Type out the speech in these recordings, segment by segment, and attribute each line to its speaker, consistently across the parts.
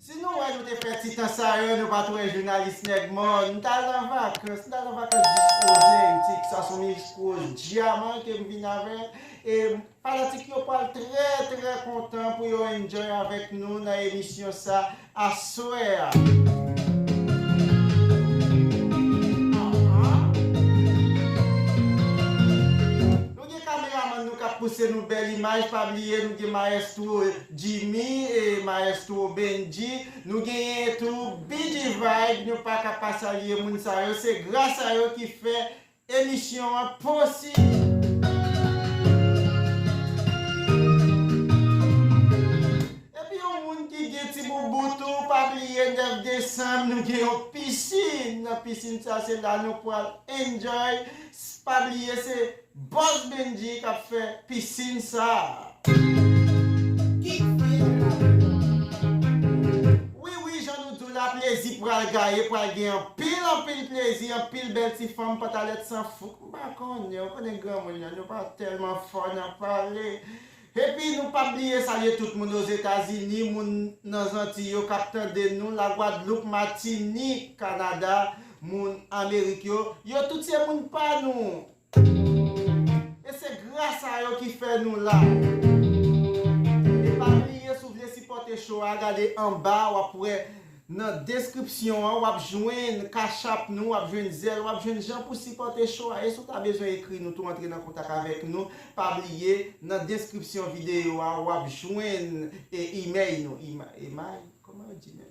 Speaker 1: Si nou wè nou te fè ti tan sa yo nou pat wè jounalis nèg mò m tal nan vakans m tal nan vakans jis ozentik sa son miskros dyaman kem vin avè e fanatik yo pwal trè trè kontan pou yo enjoy avèk nou nan emisyon sa aswè a. Nou gen kameramann nou kap pouse nou bèl imaj pa bliye nou gen maestro Jimmy e maestro Bendji nou genyen tou Bidji Vibe nou paka pa salye moun sa yo se gras a yo ki fè emisyon an posib. Epi yon moun ki gen ti boubou tou pa bliye 9 desanm nou gen yon piscine nan piscine sa se la nou pwal enjoy S pa bliye se Boss Bendy kap fè piscine sa. Wi wi jan nou diw la plezi pral gaye pral gen anpil anpil plezi anpil bèl ti fanm pantalèt san fouk m pa konnen ou konnen granmoun yo nou pa tèlman fò nan pale Epi nou pap bliye salye tout moun Ozetazini, moun nan Zantiy yo kap tande nou, Lagwadloup, Matinik, Kanada, moun Amerik yo, yo tout se moun pa nou. E se gras a yo ki fè nou la. E pa bliye si w vle sipòte show a gade anba wap wè Nan deskripsyon an wap jwenn cash-app nou, wap jwenn Zelle, wap jwenn jan pou sipòte show a e si w ta bezwen ekri nou tou antre nan kontak avèk nou pa bliye nan deskripsyon videyo a wap jwenn e imèy nou, emay? Kòman yo di menm?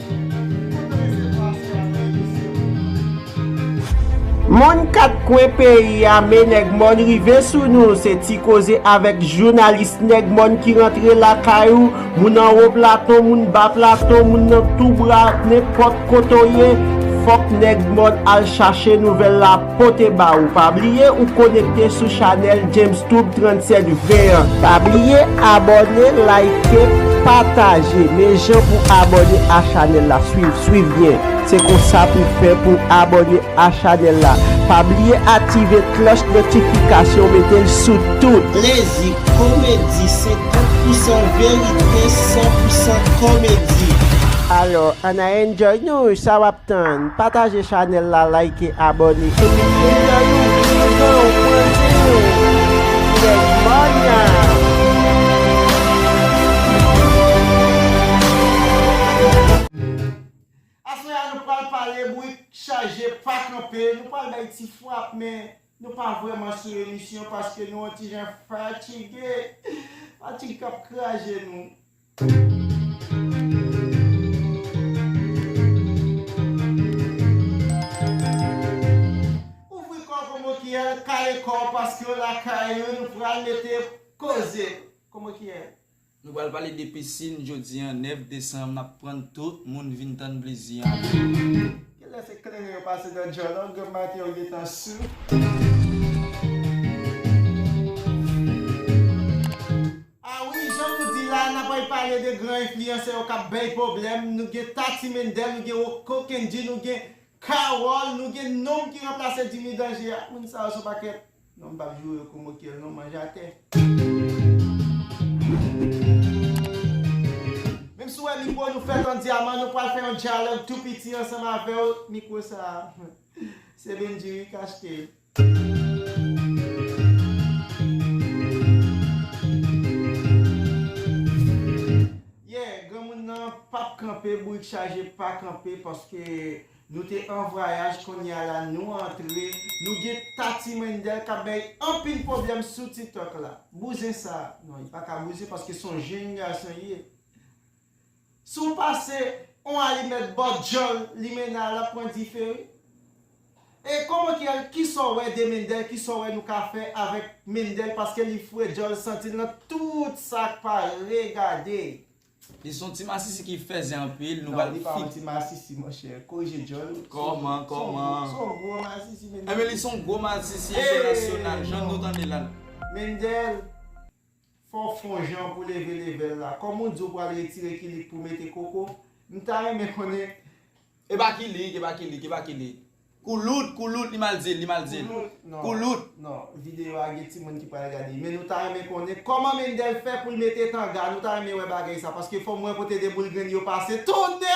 Speaker 1: Mon 4 kwen peyi a me nèg mòn rive sou nou se ti koze avèk jounalis nèg mòn ki rantre lakay ou moun anwo platon moun ba platon moun nan tou bra nenpòt kote w ye fòk nèg mòn al chache nouvèl la pote ba ou pa bliye ou konekte sou chanèl Jamestube 37 20 an. Pa bliye abòne like pataje men jan pou abòne a chanèl la swiv swiv byen se konsa pou fè pou abòne a chanèl la pa bliye aktive klòch notifikasyon metel sou tout. Plezi komedi 50 pousan verite 100 pousan komedi. Alò ann a enjoy nou sa wap. Tann, pataje chanèl la like abòne epi vin nan nou vin pran ou pran zen ou Nèg Mònya. Aswè a nou pral pale bourik chaje pa kanpe nou pral bay ti frap men nou pa vrèman sou emisyon paske nou on ti jan fatige fatig kap kraje nou. Ouvri kò w Komo Kiyèl kale kò w paske w lakay ou nou pral mete koze Komo Kiyèl. Nou pral pale de
Speaker 2: pisin jodi an 9 desanm n ap prann tout moun vin tann plezi an. Kilè
Speaker 1: se kleren yo pase dan djòl an gòm maten yo gentan sou. Ah wi jan nou di la nap anh pale de gran enfliyansè yo kap bèy pwoblèm nou gen Tati Mendel nou gen Rocko Kendy nou gen Carole nou gen nonm ki ranplase Jimmy Danger ah moun sa yo son pakèt non m pap joure kou mo kyèl non manje atè. Menm si w wè mikwo nou fèt an dyaman nou pral fè yon dyalòg tou piti ansanm avè w mikwo sa se Bendjy wi kach te. Yeah granmoun nan pap kanpe bourik chaje pa kanpe paske nou te an vwayaj konnya la nou antre nou gen Tati Wendell kap bay anpil pwoblèm sou titok la bouzen sa non li paka bouzen paske son jenn gason li ye. Si w pase on alimèt bò dyòl limena lap pran dife wi e komokyèl kisa w wè de mendel kisa w wè nou ka fè avèk mendel paske li fre dyòl santi l nan tout sak pa regade. Li son
Speaker 2: ti masisi ki fèzè anpil nou pral fit. Non li pa yon ti
Speaker 1: masisi monchè korije dyòl ou Kòman kòman.
Speaker 2: Son gwo
Speaker 1: masisi mendel. Enben li son gwo masisi
Speaker 2: entènasyonal jan nou tande la. Mendel.
Speaker 1: Fò w fon jan pou leve level la. Kòm ou di ou pral retire kilik pou mete koko, m ta renmen konnen. Epa
Speaker 2: kilik epa kilik epa kilik koulout koulout li mal dil li mal dil koulout. Non video
Speaker 1: a gen timoun ki pral gade men nou ta renmen konnen kòman Mendel fè poul mete tanga nou ta renmen wè bagay sa paske fòm wè kote 2 boul grenn yo pase tonnè!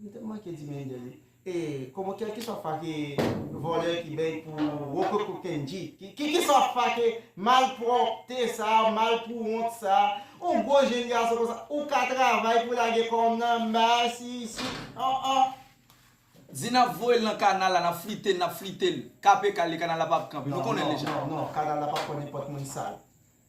Speaker 1: M te manke di mende li. E koman kelkeswa fa ke vòlè ki bèy pou rococo kendji. Kelkeswa fa ke malpwòpte sa a, malpouwont sa a, on gwo jenn gason konsa, ou ka travay pou lage kòm nan mas isi, an an.
Speaker 2: Di nap voye l nan kanal la, nap flite l, nap flite l. Kape kal li, kanal la pap kanpe. Nou konnen l deja. Non, non, non, kanal la pap pran
Speaker 1: nenpòt moun sal.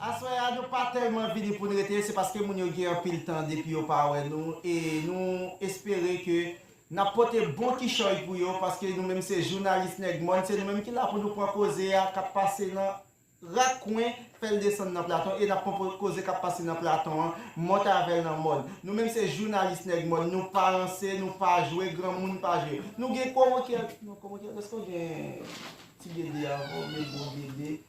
Speaker 1: Aswè a nou pa tèlman vini poun rete se paske moun yo gen anpil tan depi yo pa wè nou e nou espere ke nap pote bon kichòy pou yo paske nou menm se jounalis nèg mòn se nou menm ki la pou nou pran koze a kap pase nan rak kwen fèl desann nan platon e nap pran koze kap pase nan platon an monte avèl nan mòn nou menm se jounalis nèg mòn nou pa ranse nou pa jwe granmoun pa jwe nou gen komokyèl non komokyèl eske w gen ti gede avan w met gwo gede.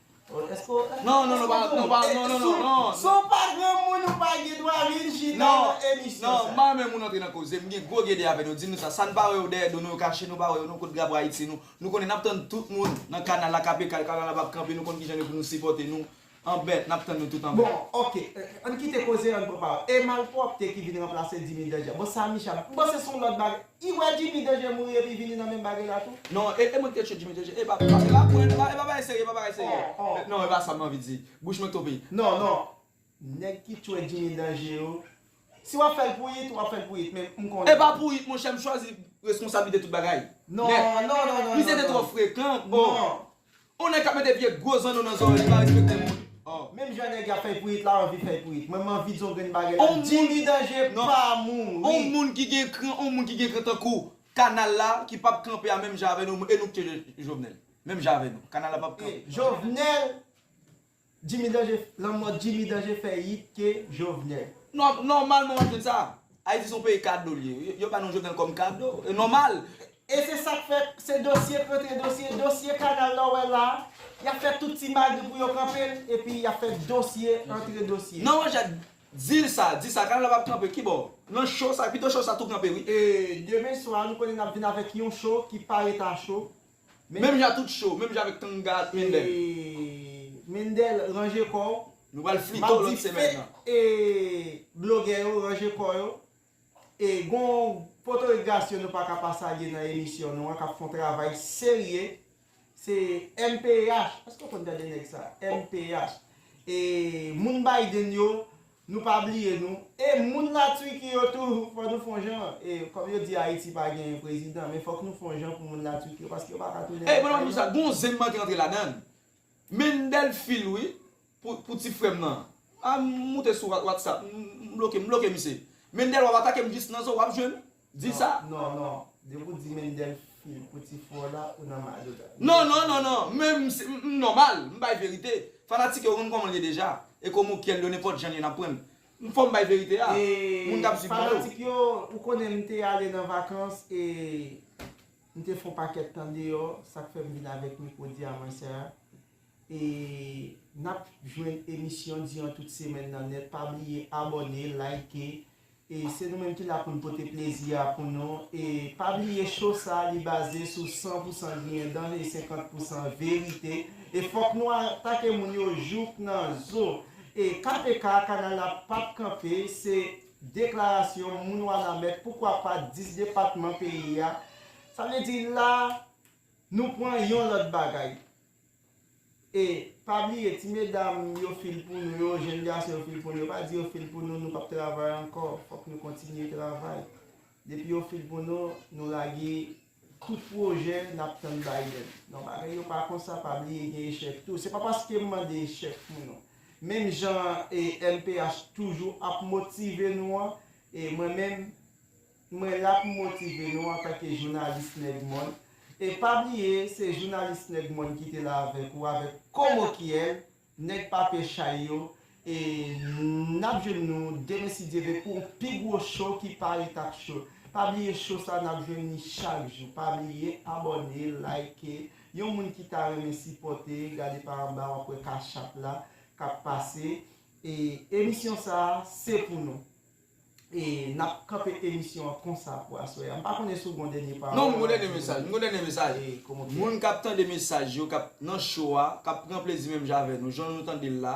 Speaker 1: Non non non pa non pa
Speaker 2: non non
Speaker 1: non non Si w pa granmoun ou pa gen dwa vin chita nan emisyon sa. Non mpa renmen moun antre nan
Speaker 2: koze m gen gwo gede avè nou di nou sa sa n pa wè yo dèyè do nou yo kache nou pa wè yo nou kot drapo ayiti nou nou konnen nap tann tout moun nan kanal la kap ekal kanal la pap kanpe nou konn kijan nou pou nou sipòte nou anbèt nap tann nou tout anbèt. Bon ok ann
Speaker 1: kite koze an pran pawòl e malpwòpte ki vin ranplase dimi danja bon sa micha m panse son lòt bagay. I wè Jimmy deje mouri epi vini nan menm bagay la tou. Non e mwen ki te tchye
Speaker 2: Jimmy deje e pa e pa pwen e pa e pa bagay serye e pa bagay serye non e pa sa m anvi di bouch mwen tope. Non non
Speaker 1: nèg ki tchwe Jimmy danje yo si wap fèl pou it wap fèl pou it men m konnen. E pa pou it monchè m
Speaker 2: chwazi reskonsablite tout bagay nèt
Speaker 1: misye te
Speaker 2: twò frekan oh. On nèg kap mete vye gwo zanno nan zòrèy li pa respekte moun oh. Menm jan nèg yap
Speaker 1: fèy pourit la anvi fèy pourit mwen manvi di yon grenn bagay la Jimmy danje pa mouri. On moun ki gen kran
Speaker 2: on moun ki gen kran tankou kanal la ki pap kanpe a menm jan avè nou e nou k tye jovenel menm jan avè nou kanal la pap kanpe. Jovenel
Speaker 1: Jimmy danje lanmò Jimmy danje fè yit ke jovenel. Nòmalman
Speaker 2: wap jwenn sa. Ayiti son peyi kado liye wi. Yo ba nou Jovenel kòm kado. E nòmal. E se sak
Speaker 1: fè se dosye kontre dosye, dosye kanal la w wè la a, y ap fè tout ti magri pou yo kanpe l epi y ap fè dosye antre dosye. Nan wè Jacques
Speaker 2: di l sa, di sa, kanal la p ap kanpe, kibò? Nan show sa, pito show sa tou kanpe wi. E demen swa
Speaker 1: nou konnen n ap vin avèk yon show ki pa ret a show, Menm jan tout
Speaker 2: show, menm jan avèk Kanga ak Mendel. Eeeeee
Speaker 1: Mendel ranje kò w. Nou pral flito lòt
Speaker 2: semèn nan. Map di eeeeee
Speaker 1: blogè yo ranje kò yo. E gon potorik Gasio nou paka pa salye nan emisyon nou an kap fon travay serye. Se mph, èske w konn tande nèg sa? Mph. E moun Biden yo. Nou pa bliye nou e moun la Turquie yo tou fò nou fon jan e kòm yo di ayiti pa genyen prezidan men fòk nou fon jan pou moun la Turquie yo paske yo pa ka tounen lakay yo. Ey mwen pa konn pou kisa gon zen
Speaker 2: manke antre ladann Mendel fil wi pou ti frèm nan an moute sou whatsapp m bloke misye Mendel wap atakem jis nan zo wap jwenn Di sa. Non non depi ou
Speaker 1: di Mendel fi pou ti fro la ou nan mazotra. Non non non non men
Speaker 2: m se m nòmal m bay verite fanatik yo konn kòman l ye deja e komo kyèl yo nenpòt jan l ye n ap prann m fò m bay verite a moun k ap swiv mwen yo.
Speaker 1: Fanatik yo ou konnen m te ale nan vakans e m te fon pakèt tan deyò sa k fè m vin avèk mikwo di a mwen sa e n ap jwenn emisyon di an tout semèn nan nèt pa bliye abòne like E se nou menm ki la poun pote plezi a pou nou e pa bliye show sa li baze sou 100 pou 100 griyen dan e 50 pou 100 verite e fòk nou atake moun yo jouk nan zo e KPK kanal la pap kanpe se deklarasyon moun wanament poukwa pa 10 depatman peyi a sa vle di la nou pwan yon lòt bagay. E pa bliye ti medam yo fil pou nou yo, jèn gason yo fil pou nou yo pa di yo fil pou nou nou pap travay ankò fòk nou kontinye travay depi yo fil pou nou nou lage tout pwojè nap tann Biden non bagay yo pa konsa pa bliye gen echèk tou se pa paskem mande echèk pou nou menm jan mph toujou ap motive nou an e mwen menm Mwen la pou motive nou antanke jounalis nèg mòn e pa bliye se jounalis nèg mòn ki te la avèk ou avèk komokyèl nèg papye chay yo e nap jwenn nou demen si Dye ve pou yon pi gwo cho ki pa ret ak cho pa bliye cho sa nap jwenn li chak jou pa bliye abòne like yon moun ki ta renmen sipòte gade pa anba wap wè cash app la kap pase e emisyon sa se pou nou. E nap kanpe emisyon an konsa pou aswè a. M pa konnen si w gon dènye pawòl. Non m gon dènye mesaj. M gon
Speaker 2: dènye mesaj. Moun kap tande mesaj yo kap nan cho a, kap pran plezi menm jan avè nou, jan nou tande l la.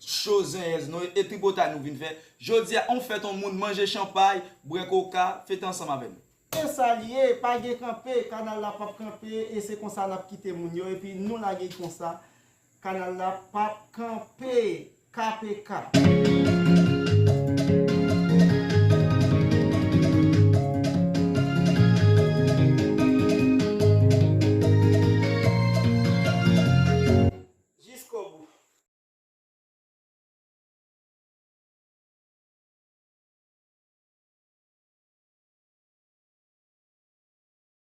Speaker 2: Cho zenyèz nou e tripotay nou vin fè. Jodi a on fèt on moun manje chanpay, bwè koka, fete ansanm avè nou. Se sa l ye, pa
Speaker 1: gen kanpe, kanal la pap kanpe e se konsa nap kite moun yo epi nou lage l konsa. Kanal la pap kanpe kpk. Jiskobou.